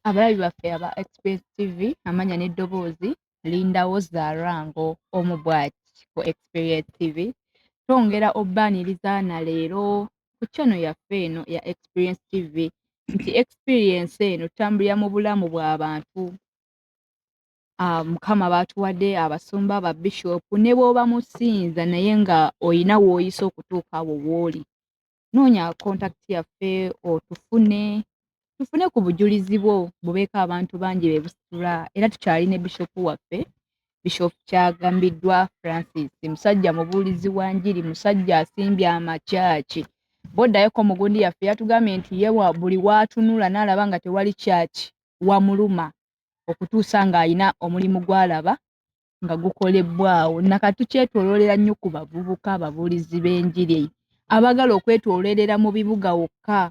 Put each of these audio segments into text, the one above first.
abalabi baffe aba express tv amanya n'eddoboozi lindawo zarango omu bwati ku experience tv twongera obbaaniriza na leero ku channel yaffe eno ya Experience TV nti experience eno tambulira mu bulamu bw'abantu ah, mukama baatuwadde abasumba aba bishop ne bw'oba musinza naye nga olina w'oyise okutuuka awo w'oli noonya contact yaffe otufune tufune ku bujulizi bwo bubeeko abantu bangi be busitula era tukyali ne bishopu waffe bishopu kyagambiddwa francis musajja mubuulizi wa njiri musajja asimbye amakyaki bw'oddayoko mu gundi yaffe yatugambye nti ye buli waatunula n'alaba nga tewali kyaki wamuluma okutuusa ng'alina omulimu gw'alaba nga gukolebbwaawo nakati tukyetoloolera nnyo ku bavubuka ababuulizi b'enjiri abagala okwetoloolera mu bibuga wokka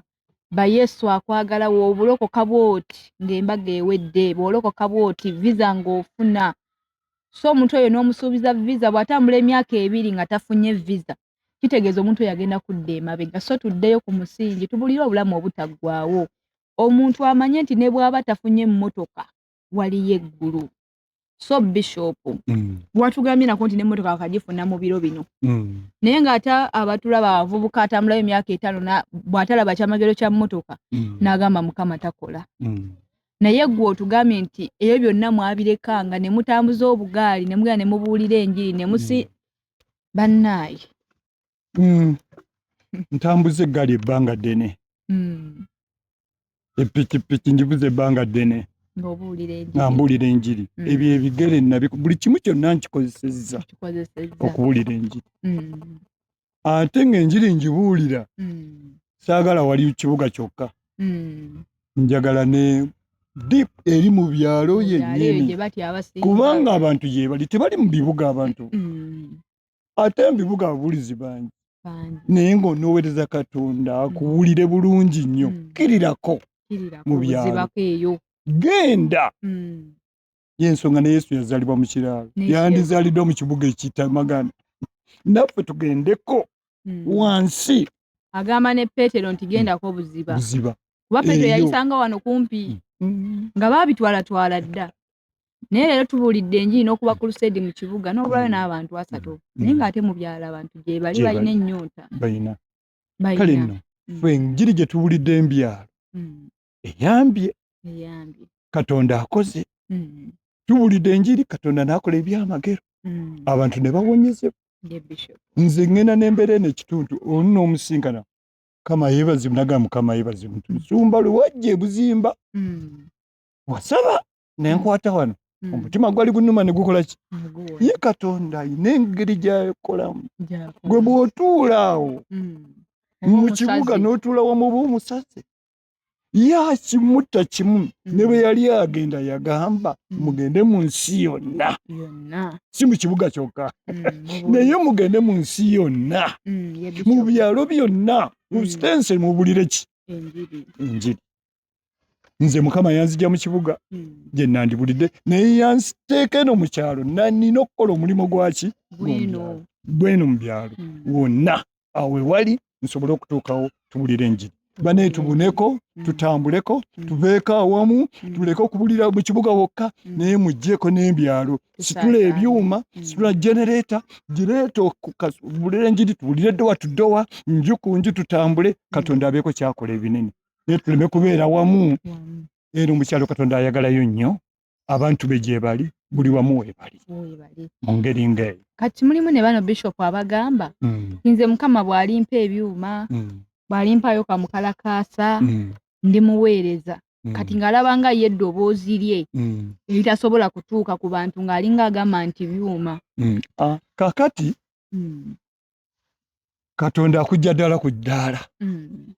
ba yesu akwagala woobulokoka bwoti ng'embaga ewedde bwolokoka bwoti viza ng'ofuna so omuntu oyo n'omusuubiza viza bw'atambula emyaka ebiri nga tafunye viza kitegeeza omuntu oyo agenda kudda emabega so tuddeyo ku musingi tubulire obulamu obutaggwaawo omuntu amanye nti ne bw'aba tafunye emmotoka waliyo eggulu so bishop mm. watugambye nako nti nemotoka wakajifuna mu biro bino mm. naye nga ate abatulaba abavubuka atambulayo emyaka etaano bwatalaba kyamagero kya motoka mm. nagamba mukama takola mm. naye gwe otugambye nti ebyo byonna mwabirekanga ne mutambuza obugaali ne mugenda ne mubuulira enjiri ne musi mm. bannaaye mm. ntambuza eggaali ebbanga ddene mm. epikipiki njibuza ebbanga ddene nga mbuulira enjiri mm. ebyo ebigere nabi buli kimu kyonna nkikozesezza okubuulira enjiri mm. ate ng'enjiri njibuulira mm. saagala wali kibuga kyokka mm. njagala ne deep eri mu byalo yennyini kubanga abantu gyebali tebali mu bibuga abantu mm. ate mubibuga ababulizi bangi naye nga onowereza katonda mm. akuwulire bulungi nnyo mm. kirirako mu byalo genda mm. yensonga ne yesu yazalibwa mu kiraalo yandizaliddwa mu kibuga ekitamagana naffe tugendeko wansi agamba ne petero nti gendako obuziba kuba petero yayisanga wano kumpi nga babitwalatwala dda naye leero tubuulidde enjiri n'okuba kulusedi mu kibuga n'obulayo mm. n'abantu asatu mm. naye ng'ate mu byalo abantu gye bali balina ennyonta balina kale nno mm. fe enjiri gye tubuulidde embyalo eyambye katonda akoze tubuulidde enjiri katonda n'akola ebyamagero abantu ne bawonyezebwa nze ŋŋenda n'embeera eno ekitundu onu n'omusinkana kama yebazibu naga mukama yebazibu nsumba lwewajja ebuzimba wasaba ne nkwata wano hmm. omutima gwali gunuma ne gukola ki ye katonda alina engeri gyakolamu gwe bw'otuula awo hmm. mu kibuga n'otuula wamuba omusaze yakimutta kimu hmm. ne bwe yali agenda yagamba mugende mu nsi yonna si mu kibuga kyokka naye mugende mu nsi yonna mu byalo byonna mu sitense mubulire ki enjiri nze mukama yanzija mu kibuga hmm. gye nandibulidde naye yanziteeka eno mu kyalo nanina okukola omulimu gwaki gweno mu byalo hmm. wonna awo ewali nsobole okutuukawo tubulire enjiri bane tubuneko hmm. tutambuleko tuveeko awamu tuleke okubulira mu kibuga wokka naye mugjeeko n'ebyalo situla ebyuma situla genereeta gireeta okubulira enjiri tubulire ddowa tuddowa nju ku nju tutambule katonda abeeko kyakola ebinene naye tuleme kubeera wamu era omukyalo katonda ayagalayo nnyo abantu be gyebali buli wamu webali mu ngeri ngaeyo kati mulimu ne bano bishop abagamba mm. nze mukama bwalimpa ebyuma mm. bwalimpayo kamukalakaasa mm. ndi muweereza Mm. kati ng'alaba nga ye eddoboozi lye mm. eritasobola kutuuka ku bantu ng'alinga agamba nti byuma mm. ah, kakati katonda akujja ddala ku ddaala mm.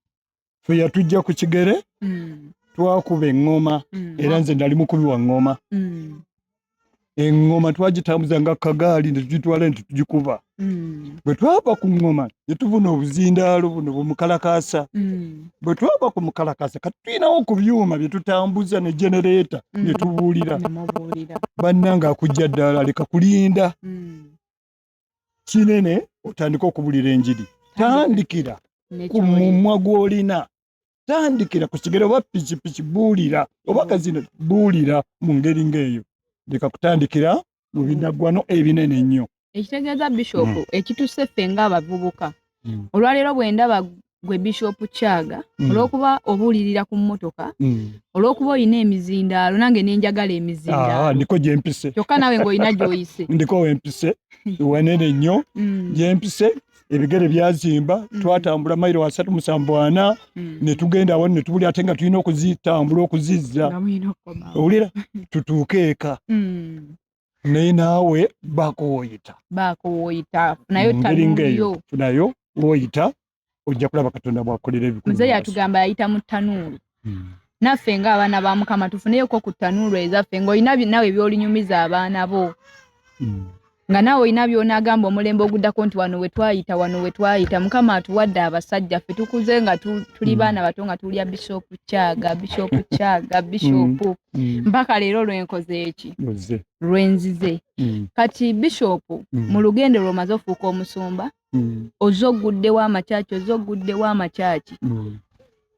fe yatujja ku kigere mm. twakuba eŋŋoma mm. era nze nali mukubi wa ŋŋoma eŋŋoma twagitambuza nga kagaali ne tugitwala nti tugikuba bwe twava ku ŋŋoma ne tubuna obuzindaalo buno bumukalakaasa bwe twava ku mukalakaasa kati tulinawo ku byuma bye tutambuza ne genereeta ne tubuulira bannanga akujja ddaala leka kulinda kinene otandika okubulira enjiri tandikira ku mumwa gw'olina tandikira ku kigero oba pikipiki buulira oba kazino buulira mu ngeri ng'eyo leka kutandikira mu binaggwano ebinene ennyo ekitegeeza bishop mm. ekituse ffe ng'abavubuka mm. olwaleero bwe ndaba gwe bishop kyaga mm. olwokuba obuulirira ku mmotoka mm. olwokuba olina emizindaalo nange nenjagala emizindaalokyokka ah, ah, nawe ngaolina gyoyise ndiko wempise wanene nnyo mm. gyempise ebigere byazimba mm. twatambula mairo wasatu musanvu ana mm. netugenda awo netubuli ate nga tulina okuzitambula okuzizza owulira tutuuke eka mm. naye naawe baako woyita baako woyita nayo tali ngeyo funayo woyita ojja kulaba katonda bwakolera ebikulu muzeeyi yatugamba yayita mu tanuulu hmm. naffe nga abaana ba mukama tufuneyoko ku tanuulu ezaffe ngaolina nawe ebyolinyumiza abaana bo hmm. nga naawe olina byonagamba omulembe oguddako nti wano wetwayita wano wetwayita mukama atuwadde abasajja ffe tukuze nga tuli hmm. baana bato nga tulya bishopu kyaga bishopu kyaga bishopu mm. mpaka mm. leero lwenkoze eki lwenzize mm. kati bishopu mm. mu lugendo lwomaze ofuuka omusumba mm. oze ogguddewo amakyaki oze ogguddewo amakyaki mm.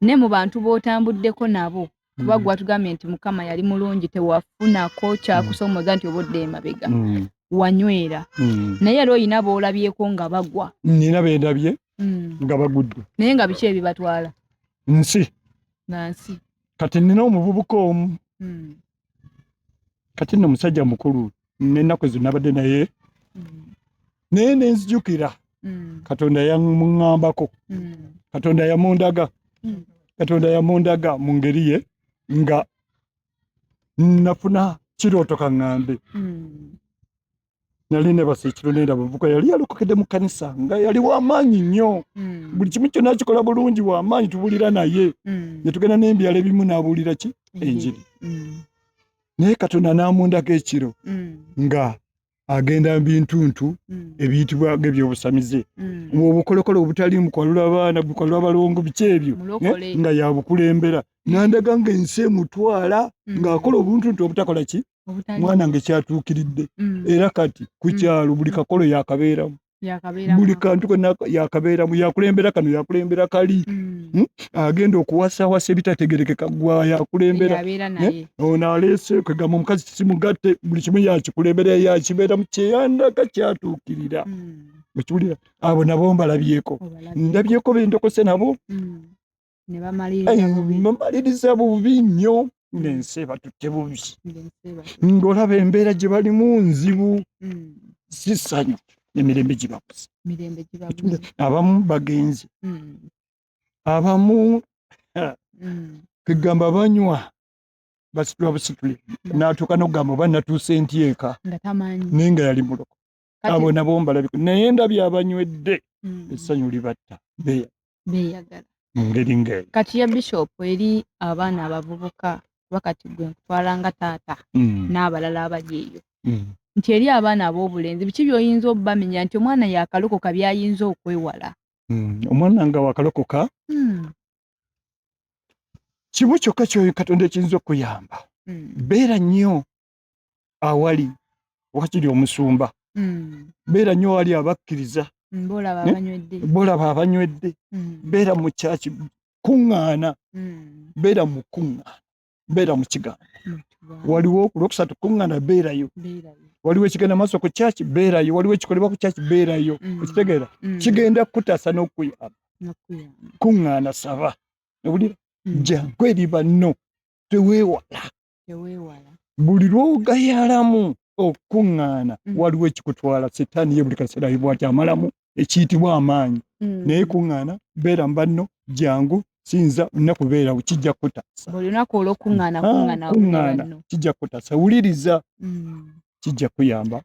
ne mu bantu b'otambuddeko nabo kuba mm. gwatugambye nti mukama yali mulungi tewafunako kyakusomoza nti oba odde emabega mm. wanywera mm. naye era olina boolabyeko nga bagwa nina bendabye nga bagudde naye nga biki ebibatwala nsi nansi kati nina omuvubuka omu hmm. kati no musajja mukulu nenaku zinabadde naye hmm. naye nenzijukira hmm. katonda yamuŋambako katonda yamundaga katonda yamundaga mu ngeri ye nga nafuna kirooto kaŋambe nali nebasa ekiro nenda bavuka yali yalokokedde mu kanisa nga yali wamaanyi nnyo hmm. buli kimu kyonna kikola bulungi wamaanyi tubulira naye hmm. netugenda nembyalo ebimu nabulira ki hmm. enjiri naye katonda namundako ekiro nga agenda mbintuntu ebiyitibwa nga ebyobusamize obukolokolo obutali mukwalula abaana bukwalula abalongo biki ebyo eh, nga yabukulembera nandaga nga ensi emutwala ngaakola obuntuntu obutakola ki mwana nge kyatuukiridde mm. era kati ku mm. kyalo buli mm. kakolo yakabeeramu buli kantu kona yakabeeramu yakulembera kano yakulembera kali hmm? agenda okuwasawasa ebitategerekeka gwa yakulembera eh? ono aleese kwegamba omukazi kisimugatte buli kimu yakikulembera yakibeeramu kyeyandaga kyatuukirira okiwulira abo nabo mbalabyeko ndabyeko bendokose nabo ne bamaliriza bubi bamaliriza bubi nnyo mm. ng'ensi ebatutte bubi ng'olaba embeera gye balimu nzibu mm. si ssanyu emirembe gibabuze abamu bagenzi mm. abamu kegamba banywa basitula busitule natuuka nokugamba oba natuuse nti eka naye nga yali muloko abo nabo mbalabika naye ndabye abanywedde mm. essanyu libatta beyagala mu ngeri ngaeyo kati ya bishop eri abaana abavubuka kuba kati gwe nkutwala nga taata mm. n'abalala abali eyo mm. nti eri abaana ab'obulenzi biki byoyinza obubamenya nti omwana yakalokoka byayinza okwewala omwana nga wakalokoka kimu kyokka kyoyo katonda ekiyinza okuyamba beera nnyo awali wakiri omusumba mm. beera nyo wali abakkiriza mm, bolaba abanywedde mm. beera mu kyaki kuŋŋaana mm. beera mu kuŋŋaana beera mu kigambo mm, waliwo ku lwokusatu kuŋŋaana beerayo waliwo ekigenda maaso ku kyaki beerayo waliwo ekikolebwa ku kyaki beerayo mm. okitegeera mm. kigenda kukutaasa n'okukuyamba kuŋŋaana saba owulira mm. jangu eri banno teweewala buli lwogayalamu okukuŋŋaana mm. waliwo ekikutwala setaani ye buli kaseera yibwati amalamu ekiyitibwa amaanyi mm. naye kuŋŋaana beera mubanno jangu sinza olina kubeerawo kijja kutasakuŋŋaana ah, kijja kutasa wuliriza mm. kijja kuyamba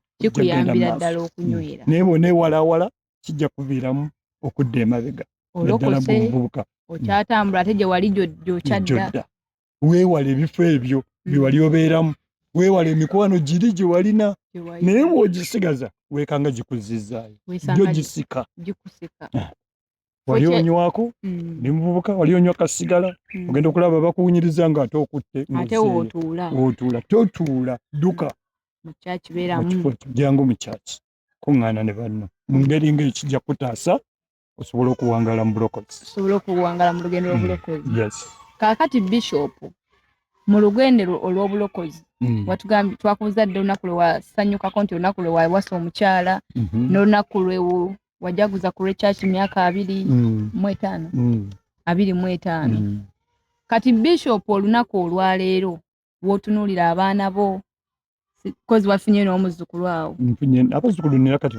naye bona ewalawala kijja kuviiramu okudda emabega naddala gumuvubuka okyatambula ate gyewali gyokyadda weewale ebifo ebyo bye wali obeeramu weewale emikwano giri gye walina naye bw'ogisigaza weekanga gikuzzizaayo gyo gisika ah. wali onywako mm. ne muvubuka wali onywa kasigala mm. ogenda okulaba bakuwunyiriza nga ate okutte otuula totuula dduka jangu mu kyaki kuŋŋaana ne banno mu ngeri ng'ekijja kutaasa osobola okuwangala mu bulokozi osobola okuwangala mu lugendo lwobulokozi mm. yes kakati bishop mu lugendo olwobulokozi mm. watugambye twakubuza dde olunaku lwewasanyukako nti olunaku lwewawasa omukyala mm-hmm. nolunaku lwewu wajaguza ku lwekyaki myaka abiri mm. mu etaano abiri mu etaano kati bishop olunaku olwaleero wotunulira abaana bo kozi wafunye n'omuzzukulu awo nfunye abazzukulu nina kati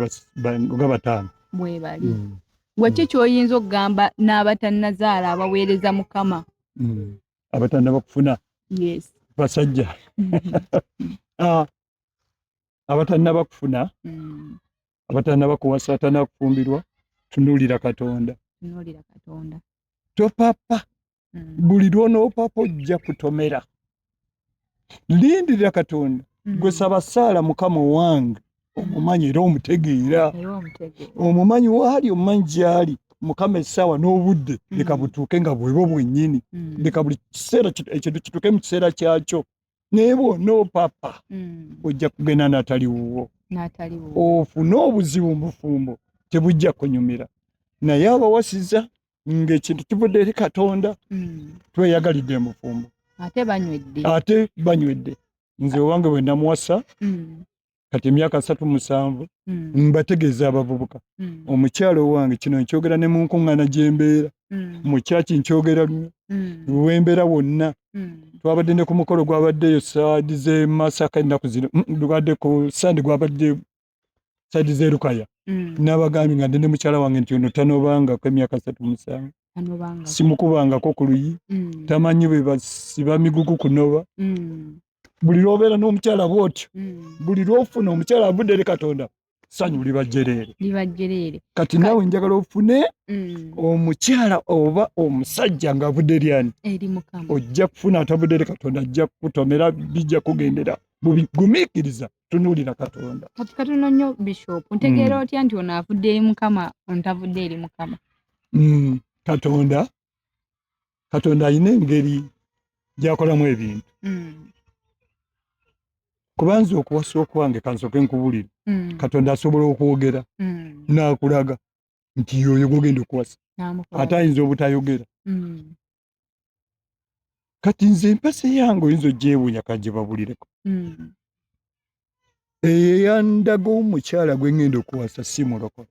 nga bataano bwebali mm. waki mm. kyoyinza okugamba n'abatannazaala abaweereza mukama mm. abatanna bakufuna yes basajja ah, abatanna bakufuna mm. abatanna bakuwasa abatanna bakufumbirwa tunulira katonda tunulira katonda topapa mm. buli lwonoopapa ojja kutomera lindirira katonda mm. gwe saba saala mukama owange omumanyi era omutegeera omumanyi waali omumanyi gyali mukama essaawa n'obudde mm. leka butuuke nga bwebo bwennyini mm. leka buli kiseera ekintu kituuke mu kiseera kyakyo naye bwona opapa mm. ojja kugenda natali wuwo ofune obuzibu mubufumbo tebujja kunyumira naye abawasiza ng'ekintu kivudde eri katonda hmm. tweyagalidde emufumbo ate banywedde ate banywedde nze owange bwe namuwasa hmm. kati emyaka satu musanvu hmm. mbategeeza abavubuka omukyalo owange kino nkyogera ne munkuŋŋana gye mbeera mu kyaki nkyogera lunyo wembeera wonna twabadde ne ku mukolo gwabaddeyo saadi z'emasaka ennaku zino lubadde ku sande gwabadde side ze lukaya mm. nabagambye nga ndende mukyala wange nti ono tanobangako emyaka satu musanvu simukubangako ku luyi mm. tamanyi bebasiba migugu kunoba mm. buli lwobeera n'omukyala bwotyo mm. buli lwofuna omukyala avudde eri katonda sanyu libajjereere kati nawe njagala ofune mm. omukyala oba omusajja ngaavudde eryani ojja kufuna atavudde eri katonda ajja kukutomera bijja kugenderawo mubigumikiriza tunuulira katonda kati katono nnyo bishop ntegeera hmm. otya nti ono avudde eri mukama ontavudde eri mukama hmm, katonda katonda alina engeri gyakolamu ebintu hmm. kubanza okuwasa okwange kansoke nkubulire katonda asobola okwogera nakulaga nti yoyo gogenda okuwasa ate ayinza obutayogera kati nze empasi yange oyinza ogyewunya kajebabulireko mm. eyo eyandaga omukyala gwe ngenda okuwasa si mulokole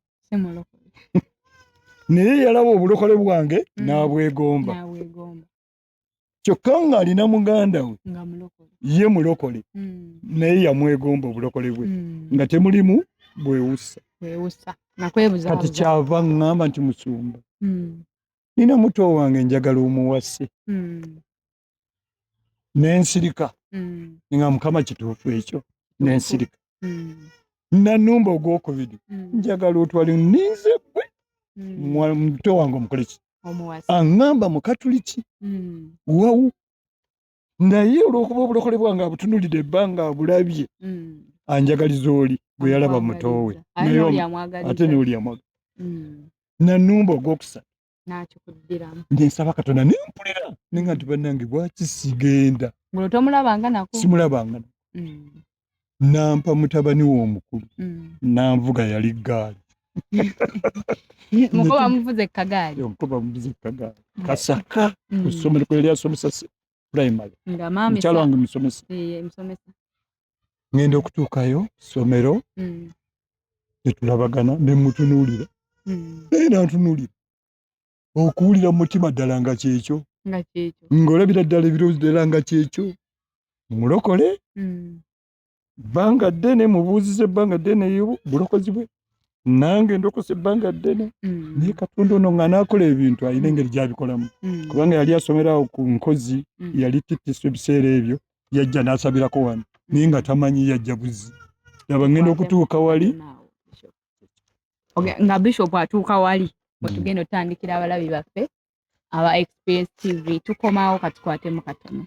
naye yalaba obulokole bwange mm. nabwegomba kyokka ng'alina muganda we ye mulokole mm. naye yamwegomba obulokole bwe nga temulimu bwewussa kati kyava ŋŋamba nti musumba nina muto wange njagala omuwase mm. nensirika mm. nga mukama kituufu ekyo nensirika mm. nanumba ogwokubiri mm. njagala otwali ninze gwe mm. muto wange omukoleki aŋamba mukatuliki mm. wawu naye olwokuba obulokole bwange abutunulidde ebbanga abulabye mm. anjagaliza oli gwe yalaba mutoowe ate nooli amwaga mm. nanumba ogwokusatu nensaba katonda nempulira ninga nti banange bwaki sigenda simulabangana mm. nampa mutabani we omukulu mm. nanvuga yali gaali mukoba muvuze kagaali mukoba muvuze kagaali mm. kasaka mm. kusomero kweli asomesa primary nga mama mchalo wangu msomesa eh msomesa ngende okutukayo somero mm. tetulabagana ne mutunulira mm. era ntunulira okuwulira mu mutima ddala nga kyekyo ng'olabira ddala ebirowoozo ddala nga kyekyo mulokole hmm. bbanga ddene mubuuziza ebbanga ddene bulokozi bwe nange ndokose ebbanga ddene hmm. naye katonda ono nga naakola ebintu alina engeri gyabikolamu hmm. kubanga yali asomera awo ku nkozi yali titiso ebiseera ebyo yajja n'asabirako wano naye nga tamanyi yajja buzi laba ngenda okutuuka wali okay nga bishop atuuka wali wetugenda mm. otandikira abalabi baffe aba experience tv tukomawo katukwatemu katono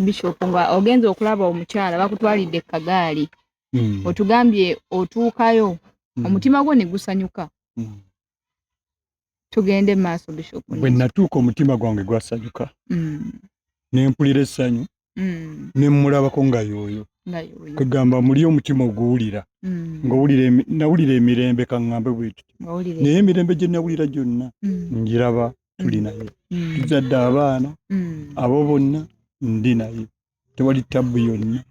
bishop nga ogenza okulaba omukyala bakutwalidde kagaali mm. otugambye otuukayo mm. omutima gwo negusanyuka mm. tugende maaso bishop bwe natuuka omutima gwange gwasanyuka mm. nempulira essanyu mm. nemulabako nga yooyo kwegamba muli omutima oguwulira mm. ngaowulira nawulira emirembe kaŋŋambe bwekiti naye emirembe gye nawulira gyonna mm. ngiraba tuli mm. naye tuzadde abaana abo bonna ndi naye tewali tabbu yonna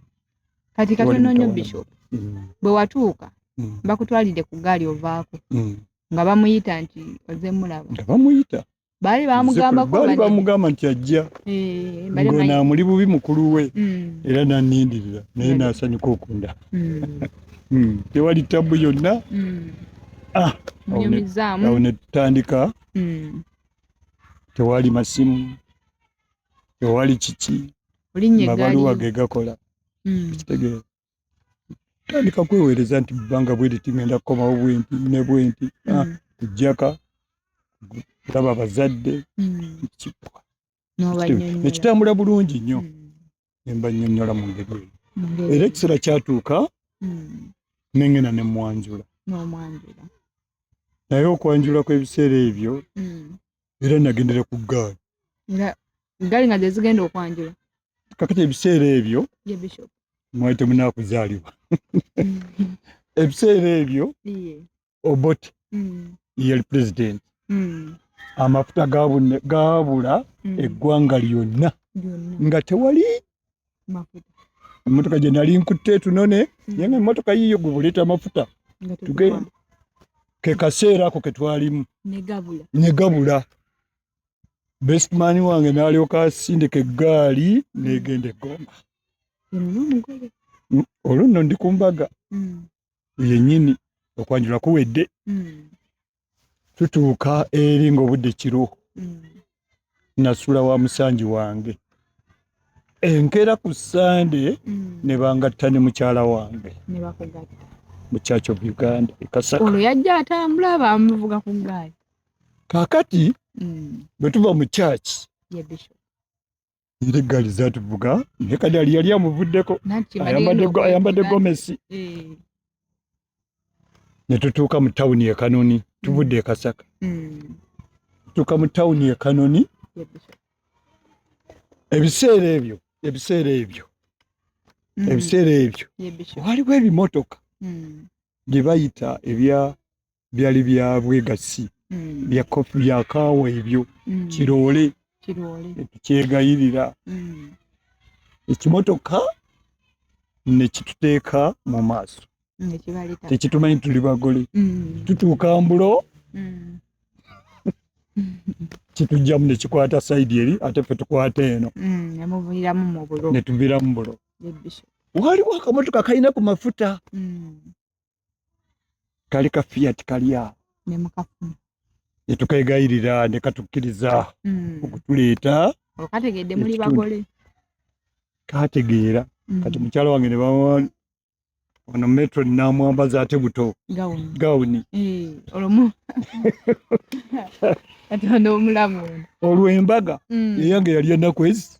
kati katononyo bishop mm. bwe watuuka mm. bakutwalidde ku gaali ovaako mm. nga bamuyita nti oze mulaba nga bamuyita baali bamugambabaali bamugamba nti ajja eh, ngonaamuli bubi mukulu we era nanindirira naye nasanyuka okunda tewali tabbu yonna ah, awo netutandika tewali masimu ewali kiki mabaluwa ge gakola hmm. ekitegeera tandika kweweereza nti bbanga bwe liti ngenda kukomawo bwenti ne bwenti hmm. ah, kujjaka kulaba bazadde hmm. kikwa nekitambula bulungi nnyo ne mbanyonyola mu ngeri eyo era ekiseera kyatuuka hmm. nengenda ne mwanjula naye okwanjula kw'ebiseera ebyo hmm. era nagendera ku gaali gaali nga zezigenda okwanjula kakati ebiseera ebyo mwali temunakuzaalibwa ebiseera ebyo Obote mm. yali president mm. amafuta gabune gabula mm. eggwanga lyonna nga tewali emotoka gyenali nkutte tunone mm. yena emotoka yiyo gwe buleeta amafuta tugenda ke kaseera ako ketwalimu negabula bestman wange nalyoka asindika eggaali negenda eggomba olwo nno ndi ku mbaga mm. yenyini okwanjula kuwedde mm. tutuuka eri ngaobudde kiro mm. nasula wa musanji wange enkera ku sande mm. nebangatta ne mukyala wange mu church of uganda ekasaolwo yajja atambula bamuvuga ku gaali kakati mm. bwetuva mu church yeah, Ile gari za tuvuga ne kadali yali amuvuddeko ayambadde gomesi eh. ne tutuuka mu tawuni e Kanoni mm. tuvudde e Kasaka mm. tutuuka mu tawuni e Kanoni ebiseera ebyo ebiseera ebyo mm. ebiseera ebyo waliwo ebimotoka bye bayita ebya byali bya bwegassi mm. bya kofu bya kaawa ebyo mm. kiroole tukyegayirira mm. ekimotoka nekituteeka mu maaso tekitumanyi tuli bagole mm. tutuuka mbulo mm. kitujjamu nekikwata saidi eri ate fe tukwata eno mm, netuviramu bulo waliwo akamotoka kalina ku mafuta kali ka fiat kali awo ne mukafuna ne tukegayirira ne katukkiriza mm. okutuleeta okategedde muli bagole kategeera mm. kati mukyala wange ne bamuwani ono metro namwambaza ate buto gawuni eh, olumu kati ono omulamu olwembaga mm. eyange yali enaku ezi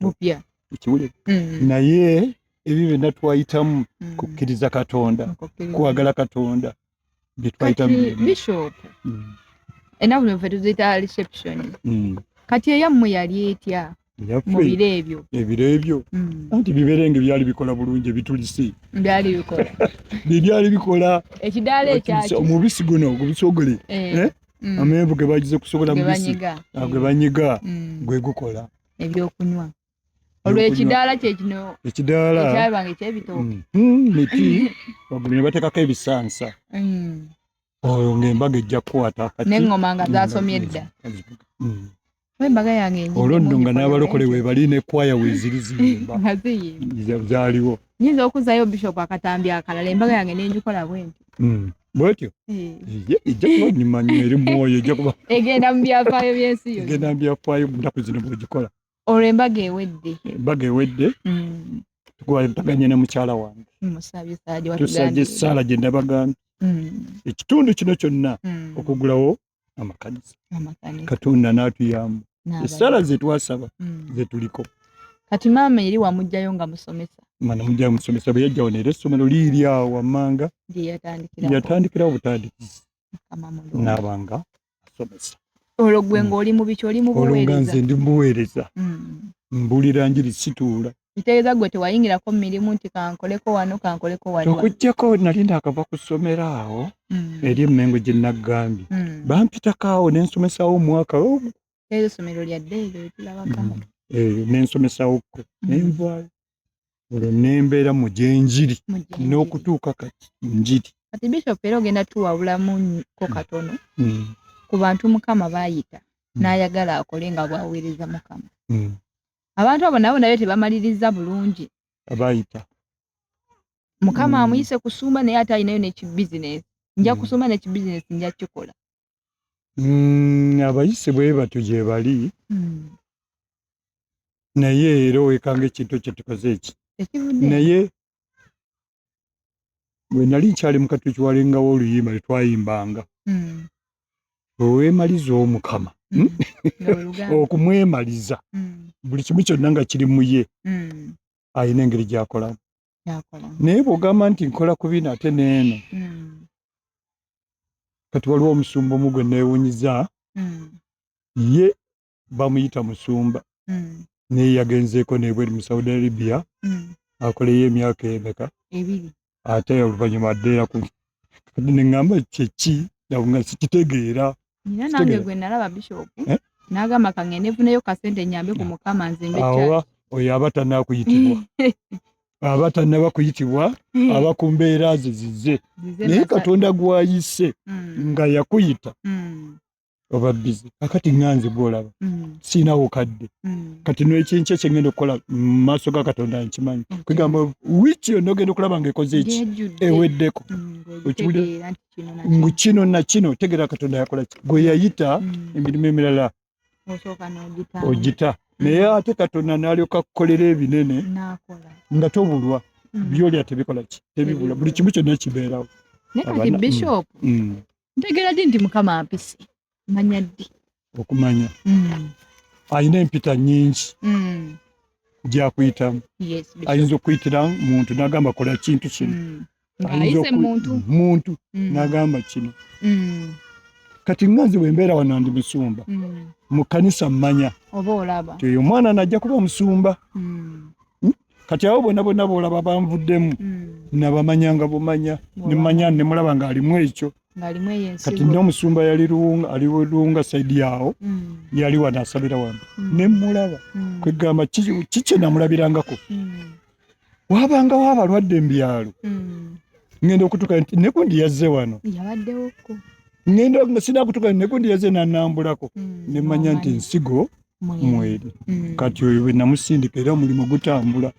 bupya ekiwulire mm. naye ebyo byonna twayitamu mm. kukkiriza katonda kwagala katonda byetwayitamu bishop mm. enaku nove tuziyita reception mm. kati eyammwe yali etya mubiro ebyo ebiro ebyo mm. anti biberenge byali bikola bulungi ebitulisi byali bikola byebyali bikola ekidaala ekyaki omubisi guno ogubisogole eh. eh? mm. amenvu gebagize kusobola mubisi gwe banyiga ah, mm. gwe gukola ebyokunywa olwo ekidaala kyekino ekidaala ekyabanga ekyebitooke mm, mm, miti wagulu ne bateekako ebisansa mm. oyo ng'embaga ejja kukwata neŋŋoma nga zasomye edda embaga yange olwo nno nga n'abalokole webali ne kwaya weziri ziyimba zaliwo nyinza okuzayo bishop akatambi akalala embaga yange nenjikola bwenti mm. bwetyo ejja kuba nyuma nyo eri mwoyo ejja kuba egenda mu byafaayo byensi yo egenda mu byafaayo mu nnaku zino bwegikola olwo embaga ewedde embaga ewedde mm. twataganye ne mukyala wange tusabye esaala gye ndabagambye mm. ekitundu kino kyonna mm. okugulawo amakanisa katonda natuyamba esaala zetwasaba mm. zetuliko kati maama eri wamugjayo nga musomesa manamugjayo musomesa bweyajjawo nera essomero liiryawo wammanga yatandikirawo butandikizi nabanga asomesa olwo gwe mm. ngaoli mubiki oli mubuweereza ndi mubuweereza mm. mbulira njiri situula kitegeeza gwe tewayingirako mu mirimu nti kankoleko wano kankoleko wali okuggyako nali naakava ku ssomero awo mm. eri emmengo gye naggambye mm. bampitako awo ne nsomesawo omwaka eyo ssomero lya ddeeyo tulabako mm. eyo ne nsomesawokko mm. ne nvaayo olwo ne mbeera mu gy'enjiri n'okutuuka kati njiri kati bishop era ogenda tuwawulamu ko mm. katono mm. ku bantu mukama baayita mm. n'ayagala akole nga bwaweereza mukama mm. abantu abo nabo naye tebamaliriza bulungi abayita mukama mm. amuyise kusumba naye ate alinayo nekibizinesi nja mm. kusumba nekibizinesi nja kikola mm, abayise bwebatyo gyebali mm. naye era owekanga ekintu ekyo tukoze eki naye bwe nali nkyali mu katuli kiwalengawo oluyimba lwe twayimbanga hmm. owemaliza omukama hmm. hmm? okumwemaliza buli kimu kyonna nga kiri muye alina engeri gyakolamu naye bwogamba nti nkola ku bino ate neeno kati waliwo omusumba omu gwe neewunyiza ye bamuyita musumba mm. naye yagenzeeko nebweri mu saudi arabia mm. akoleyo emyaka emeka ebiri ate oluvanyuma addeera ku kati neŋamba kyeki nga sikitegeera nina nange gwe nalaba bishop eh? nagamba kange nefuneyo kasente nyambe ku mukama nzimbe awa oyo aba tanakuyitibwa aba tanaba kuyitibwa hmm. aba ku mbeera ze zize naye katonda gwayise hmm. nga yakuyita hmm. oba bizi kakati nga nze gwolaba mm. siinawo kadde mm. kati nekyenkya kyengenda okukola mumaaso ga katonda nkimanyi kwegamba wiiki yonna ogenda okulaba nga ekoze eki eweddeko ngu kino nakino tegera katonda yakola ki gwe yayita mm. emirimu emirala ogita naye ate katonda nalyoka kukolera ebinene nga tobulwa byolya tebikola ki tebibula buli kimu kyonna kibeerawo naye kati bishop ntegera di nti mukama ampise manya ddi okumanya mm. alina empita nyingi mm. gyakuyitamu ayinza okuyitira muntu nagamba kola kintu kino mm. muntu mm. nagamba kino mm. kati nga nze wembeera wano ndi musumba mm. mu kanisa mmanya oyo omwana najja kuba omusumba mm. hmm? kati awo bona bona bolaba banvuddemu mm. nabamanya nga bumanya nemanya nemulaba nga alimu ekyo kati nyo omusumba yali ali lunga saidi yawo mm. yali wano asabira wano mm. nemulaba mm. kwegamba kikye namulabirangako mm. wabangawo abalwadde embyalo mm. ngenda okutuka nti nekundi yazze wano yabaddewo ngenda sinakutuka nekundi yazze nanambulako mm. nemanya nti nsigo mweri mm. kati oyo bwenamusindika era omulimu gutambula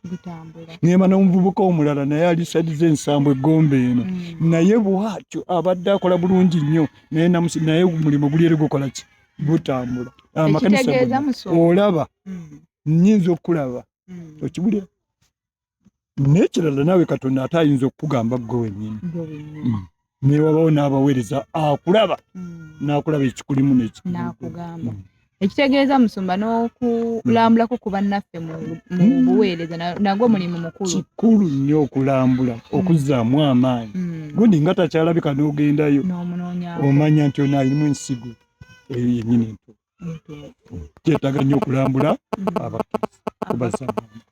nema nomuvubuka omulala naye alisadiza ensambo egombe eno mm. naye bwatyo abadde akola bulungi nnyo naye omulimu gulyeri gukolaki gutambula amakanisa olaba mm. nyinza okulaba okibulira n'ekirala naawe katonda ate ayinza okukugamba ggwe wennyini mm. newabawo n'abaweereza akulaba mm. n'akulaba ekikulimu nekikugamba mm. ekitegeeza musumba n'okulambulako ku bannaffe mu buweereza nagwo mulimu mukulu kikulu nnyo okulambula okuzzaamu amaanyi gundi nga takyalabika n'ogendayo omanya nti ono alimu ensigo eyo yennyini entuufu kyetaaga nnyo okulambula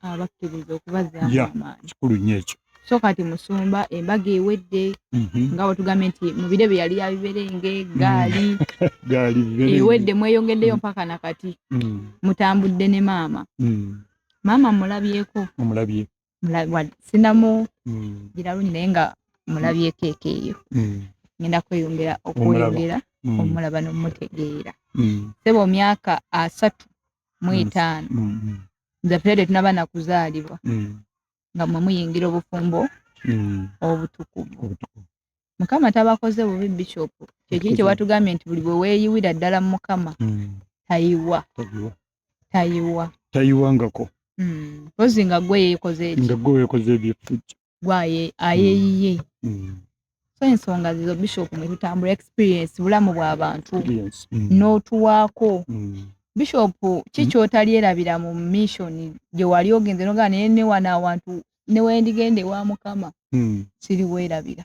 abakkiriza okubazaamu amaanyi kikulu nnyo ekyo so kati musumba embaga ewedde mhm. nga wetugambye nti mu biro bye yali yabiberenge gaali mm. ewedde mweyongeddeyo mm. mpaka na kati mm. mutambudde ne maama maama mulabyeko omulabye sinamu mm. gira lungi naye nga mulabyeko eka eyo mm. ngenda kweyongera okweyongera mm. omulaba nomutegeera seba omyaka asatu mu etaano nze pulede tunaba nakuzaalibwa nga mwe muyingira obufumbo obutukuvu mukama tabakoze bubi bishopu kyekiri kyewatugambye nti buli bweweyiwira ddala mukama tayiwa tayiwa tayiwangako mm. mpozi nga gwe yekoze eki nga gwe yekoze ebyefujja gwaye ayeyiye mm. mm. so ensonga zizo bishop mwe tutambula experience bulamu bwa bantu mm. n'otuwaako mm. bishop ki kyotalyerabira mu mission gye wali ogenze nogaa naye newana awantu newendigenda ewa mukama mm. siriweerabira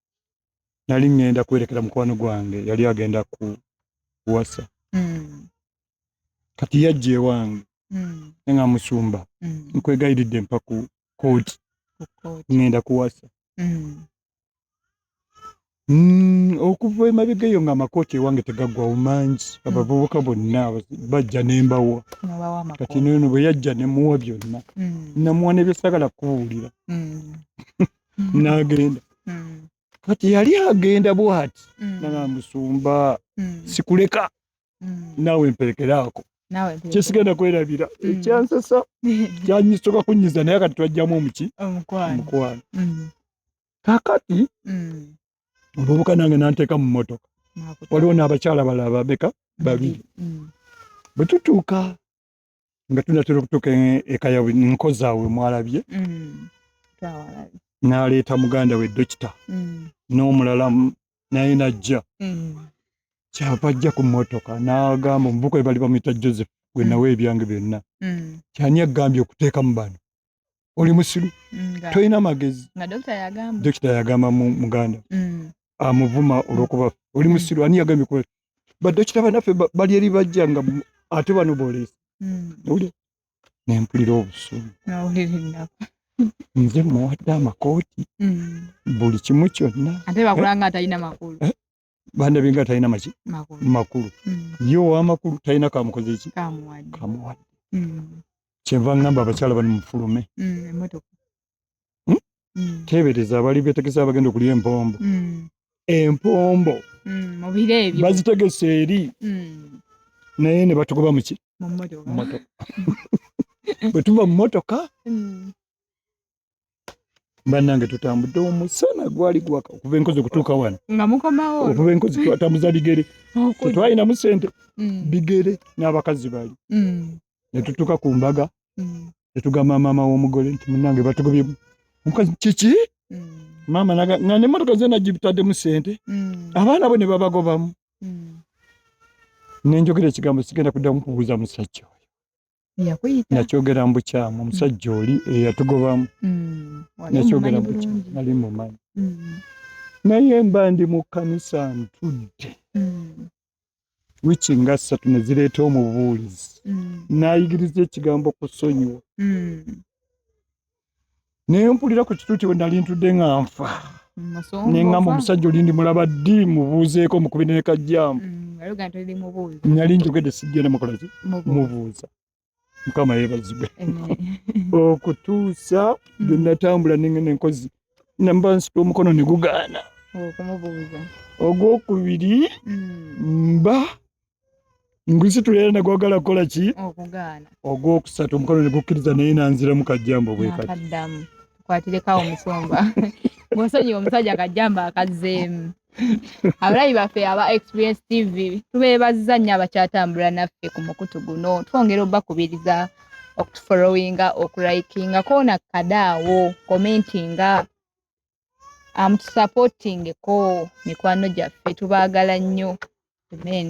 nali ŋŋenda kwerekera mukwano gwange yali agenda ku kuwasa hmm. kati yajja ewange hmm. naye nga musumba hmm. nkwegayiridde mpa ku kooti ŋŋenda kuwasa okuva emabega eyo nga amakooti ewange tegaggwawo mangi abavubuka bonna bajja nembawa kati nono bwe yajja nemuwa byonna namuwa nebyosagala kubuulira mm. nagenda mm. kati yali agenda bwati mm. nanga musumba mm. sikuleka mm. nawe mperekeraako kyesigenda kwerabira mm. ekyansasa kyanyisoka kunyiza naye kati twajjamu omuki omukwano mm. kakati mm. obubuka nange nanteeka mu motoka waliwo n'abakyala balababeka babiri bwe tutuuka nga tunatera okutuuka e-, eka yabwe nkozaawe mwalabye mm. n'aleeta muganda we dokita mm. n'omulala naye najja mm. kyava ajja ku mmotoka n'agamba omuvuka we bali bamuyita joseph gwe nawe ebyange byonna kyani agambye okuteekamu bano oli musilu tolina magezi dokita yagamba muganda mm. amuvuma olwokuba oli musilu ani yagambye kuba badokita banaffe bali eri bajja nga ate bano boleesa uli nempulira obusungu nze muwadde amakooti mm. buli kimu kyonna ate bakulanga atalina makulu eh? banda binga talina maki makulu mm. ye owamakulu talina kamukoze eki kamuwadde mm. kyenva ngamba abakyala bani mufulume mm, hmm? tebereza abali betegese abagenda okulya empombo empombo bazitegese eri naye ne batugoba muki bwetuva mu motoka banange tutambudde omusana gwali gwaka okuva enkozi okutuuka wano nga mukomawo okuva enkozi twatambuza bigere tetwalinamu sente mm. bigere n'abakazi bali mm. netutuuka ku mbaga mm. netugamba maama w'omugole nti munange batugobye omukazi kiki maama nga nemotoka zena gibitaddemu sente abaana bo ne babagobamu nenjogera ekigambo sigenda kuddamu kubuuza musajja nakyogera mu bukyamu omusajja mm. oli eyatugobamu mm. nakyogera mubukyamu nali mumanyi mm. naye mba ndi mu kkanisa ntudde wiki nga ssatu ne zireeta omubuulizi nayigiriza ekigambo kusonyiwa naye mpulira ku kituuti we nali ntudde nga nfa neŋamba omusajja olindi mulaba ddi mubuuzeeko mukubi nekajjambu mm, nali njogedde sijjena mukolaki mubuuza mukama yebazibwe okutuusa mm. genatambula nengenda enkozi namba nsita omukono negugaana ogwokubiri mm. mba ngusitula tulera ne gwagala kukola ki okugaana ogwokusatu omukono ne gukkiriza naye nanziramu kajjambo bwe kati akaddamu kwatirekawo omusomba bwosonyiwa omusajja kajjambo akazzeemu abalabi baffe aba experience tv tubeebazza nnyo abakyatambula naffe ku mukutu guno twongera obakubiriza okutufolowinga okulayikinga koona kadaawo komentinga amutusapotingeko um, mikwano gyaffe tubaagala nnyo amen